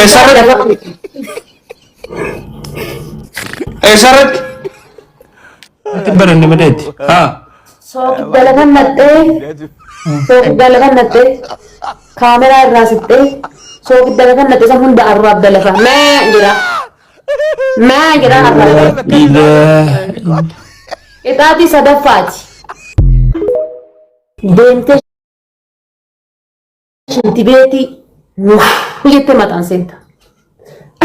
Eessarratti? Eessarratti? Itti baranne madeetti. Haa. Soogidda lafa naqxee soogidda lafa naqxee kaameraa irraa siqxee soogidda lafa naqxee san hunda arraa abda lafa maa jira maa jira arraa Ilaa. qixaatii sadaffaati deemtee Shinti beetii wuu jettee mataan seenta.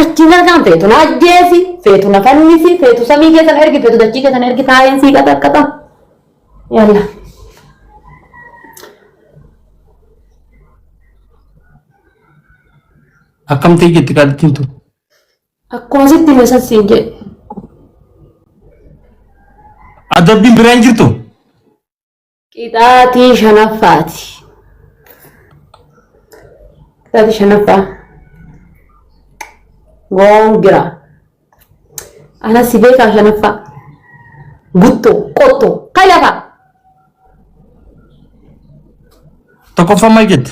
Achiin argaan feetu na ajjeesi, feetu na fannisi, feetu samii keessan ergi, feetu dachii keessan ergi taa'een sii qaxaqqaxa. Yalla. Akkam ta'e jetti qaalittiin tun. Akkuma sitti hime san siin jedhe. Adabbiin biraa hin jirtu. Qixaatii shanaffaati. Qixaatii shanaffaa. Goongira. Ana si beekaa shanaffaa. Guttoo, qottoo, kan lafaa. Tokkoffaa maal jette?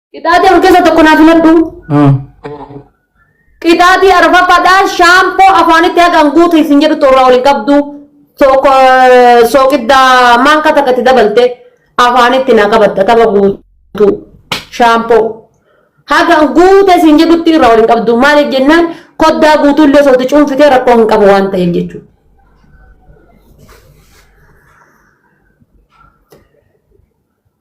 Qixaatii afur keessaa tokko naa filadhu. Ah. Qixaatii arfaffaadhaan shaampoo afaanitti haqan guutu isin jedhu toorraa waliin qabdu tokko eh, sooqiddaa maankaa takka itti dabalte afaanitti naa qabatta tapha guutu shaampoo. Haga guuta isin jedhutti irraa waliin qabdu maaliif jennaan koddaa guutuu illee osoo itti cuunfitee rakkoo hin qabu waan ta'eef jechuudha.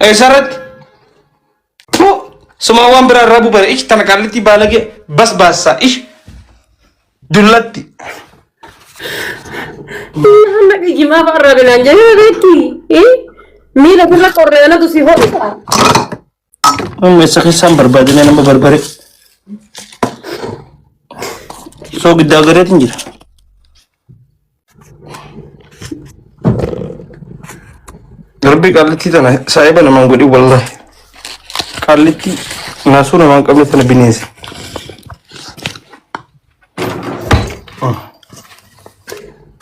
Eessarratti? Tuu! Sumaa waan biraa irraa bubare ish tana qaallitti baalagee bas baassaa ish dullatti. Hanna qiyyimaa fa'arraa binaan jedhee beekti. Miila gurra qorree anatu si ho'isa. Amma isa keessaan barbaadamee nama barbare. Soo giddaa gareetiin jira. Rabbi qallitti tana saahiba namaan godhi wallahi. Qallitti naasuu namaan qabne tana bineensi.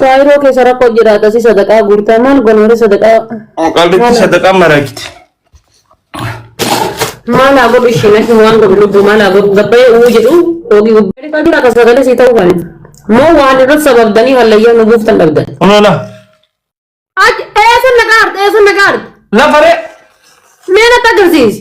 Faayiroo keessa rakkoo jiraata si sadaqaa guurtaa maal gonoore sadaqaa Qallitti sadaqaa maraagiti. Maala godhu ishee natti waan godhu lubbuu maala godhu gabbayee uuu jedhu oogii gubbaa dhifaa jira akka sagalee sii ta'uu kan moo waan irratti sababdanii hallayyaa nu buuftan dhabdan. Olola. Achi eessa na gaarte eessa na gaarte Lafa ree. mee natti agarsiisi.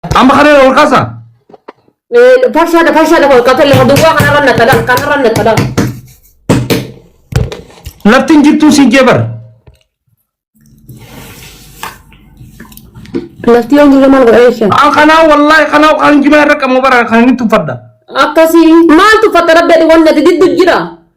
Amma kana irra ol kaasa. Farshaadha farshaadha kun qaxee lafa duwwaa kanarra naxxadha kanarra naxxadha. Lafti hin jirtu si jebar. Lafti yoo jirre maal godha jecha. An kanaa wallaahi kanaa kan jimaa irra qabu bara kan inni tuffadha. Akkasii maaltu fakkata beeku wanni ati diddu jira.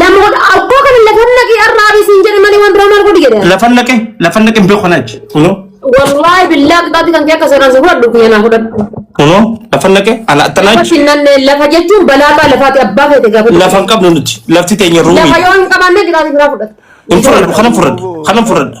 Lamoota abboo kana lafa naqii har'aa bisiin jedhe malee waan biraa maal godhi jedhe. Lafa naqe lafa naqe hin beeku kanaachi. Kunoo Wallaahi billaa qixaatti kan kee akka seeraan si fudhadhu kiyya naa fudhadhu. kunoo lafa naqe ala Lafa attanaachi. sinnanne lafa jechuun balaa abbaa lafaati abbaa feete gaafate. Lafa hin qabnu nuti lafti teenya Lafa ruumii. yoo hin qabaanne qixaatti biraa fudhadhu. Hin fudhadhu kanan fudhadha kanan fudhadha.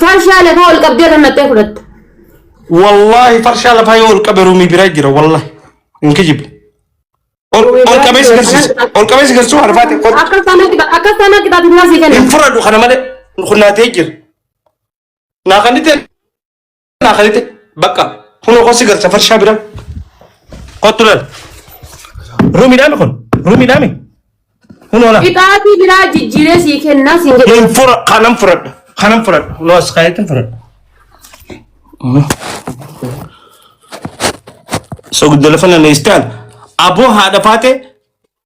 Farshaa lafaa ol qabdee irra naqxee fudhatta. Wallaahi farshaa lafaa yoo ol qabe ruumii biraa jira wallaahi. Hin kijibu. Ol Ruumii ol biraa qabee si jira. garsiisa. Ol qabee si garsiisa arfaate. Ol Akka sana qixa akka sana qixa biraa si hin kenna. fudhadhu kana malee kun naatee jira. Naa kan itti Naa kalite bakka kunoo kosi gara safar shaa bira kottu lal rumi dhaami kun rumi dhaami kunoo lal Qixaatii biraa jijjiiree sii kennaa siin jedhe. hin fura kanan furadha kanan furadha kunoo as kaayetin furadha. So giddu lafa na neestaan aboo haadha faatee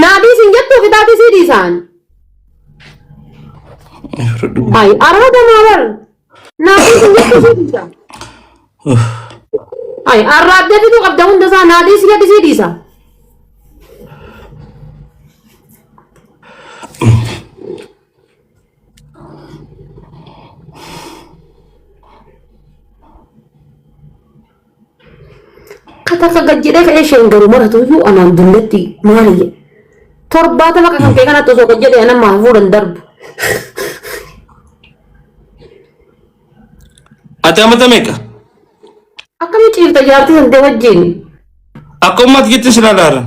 Naa dhiisin jettuu qixaaxii sii dhiisaan. Ay araada maa bar. Naa dhiisin jettuu sii dhiisaan. Ay arraabdee fiduu qabda hunda isaa naa dhiisi jedhi sii dhiisa. Katakka gad jedhee ka'ee isheen garuu maratu iyyuu anaan dulletti maali jedhe. Torbaatama kan kee kanatti osoo gad jedhee anammaa hafuudhan darbu. Ati amata meeqa? Akkami ciifta jaartii santee wajjin? Akka ummati jetti si lalaaran.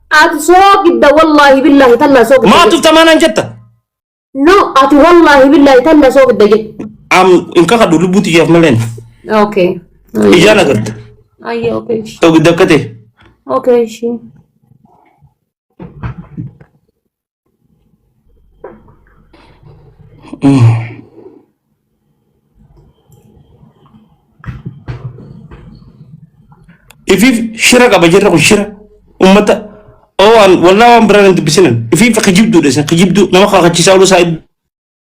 Ati soogidda wallaahi billaahi tallaa soogidda. Maa tuftamaa naan jetta? No ati wallaahi billaahi tallaa soogidda jette. Am hin kakadhu lubbuu tiyyaaf maleen. Okay. Ijaan agarta. Ayya okay. Soogidda akka ta'e. Okay ishii. ifiif shira qaba jirra kun shira ummata oo an wallaa waan biraan hin dubbisinan ifiif kijibduudha isin kijibduu nama kakachiisaa oluu isaa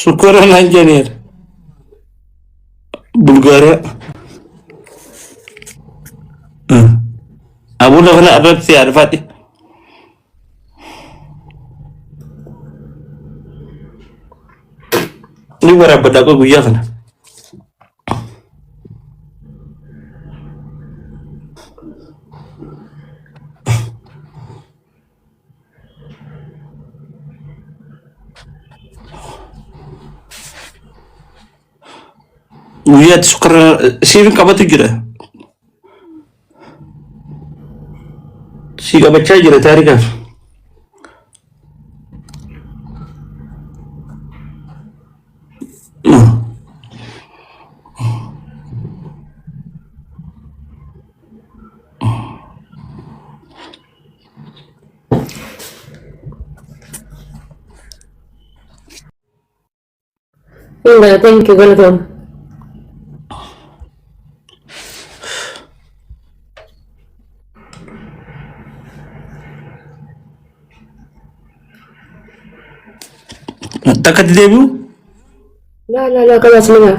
Shukura naan jedheera. Bulgaariyaa. Abuu lafa na irratti si arfadhe. Ni barabadda akka guyyaa kana. guyyaatti sukkarra siif qabatu jira si qabachaa jira taarikaaf Inga, thank you, welcome. Takka itti deebi'u? Laa laa laa kabaas ni gaa.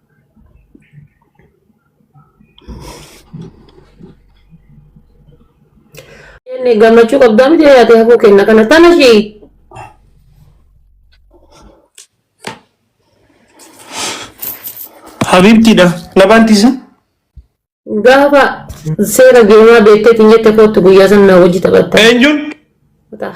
Inni gammachuu qabdaa miti yaatee hafuu kenna kana tana ishii. Habiibtiidha. Na baantiisa. Gaafa seera geemaa beekteetiin jette kootu guyyaa san na wajji taphatta. Eenyuun? Kutaa.